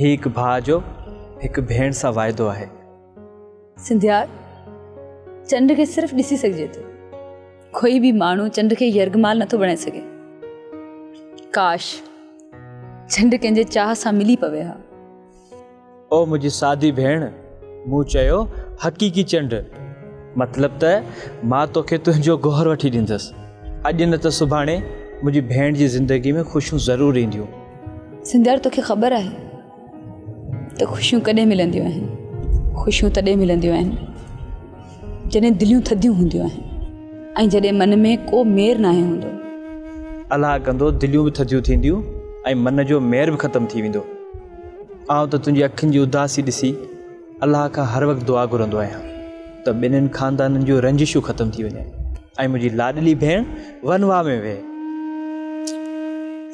هي هڪ ڀاء جو هڪ ڀيڻ سان واعدو آهي. سنڌيار، چنڊ کي صرف ڏسي سگهجي ٿو. ڪوئي به ماڻهو چنڊ کي يرغمال نٿو بڻائي سگهي. ڪاش! چنڊ ڪنهن جي چاهه سان ملي پوي ها. او منهنجي سادي ڀيڻ، مون چيو حقيقي چنڊ. مطلب ته مان توکي تنهنجو گوهر وٺي ڏيندس. اڄ نه ته سڀاڻي منهنجي ڀيڻ جي زندگي ۾ خوشيون ضرور اينديون. سنڌيار توکي خبر آهي ته خوشيون ڪڏهن ملنديون آهن خوشيون تڏهن ملنديون آهن جڏهن دليون ٿڌيون هونديون آهن ۽ جڏهن من ۾ ڪو مير ناهي هوندو الاهه ڪندو دليون به ٿڌيون ٿينديون ۽ من جو مير به ختم ٿي ويندو آئون ته تنهنجي اکين جي اداسي ڏسي الله کان هر وقت دعا گهرندو آهيان ته ٻنهن خاندانن جون رنجشون ختم ٿي وڃن ۽ منهنجي لاڏلي ڀيڻ ونوا ۾ ويهي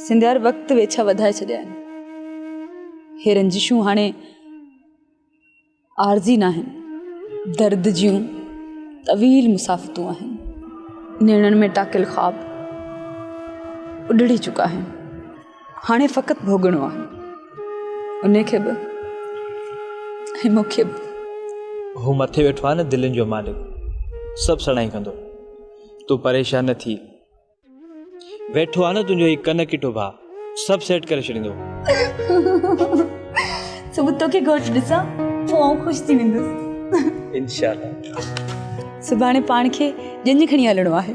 سنڌ هر وقت ويڇا وڌائي ڇڏيا آهن هي رنجشون هاڻي عارضي نه آهن درد جون طويل مسافتون آهن نيڻن ۾ ٽاڪل خواب اڏڙي چڪا آهن هاڻي فقط ڀوڳڻو آهي انهي کي به ۽ مون کي به. هو مٿي ويٺو آهي نه دلين جو مالڪ سڀ سڻائي ڪندو تون پريشان نه ٿي ويٺو آهي نه تنهنجو هي ڪن ڪٽو ڀاء سڀ سيٽ ڪري ڇڏيندو صبح توکي گهوٽ ڏسان پوء آئون خوش ٿي ويندس انشاءالله سڀاڻي پاڻ کي ڄڃ کڻي هلڻو آهي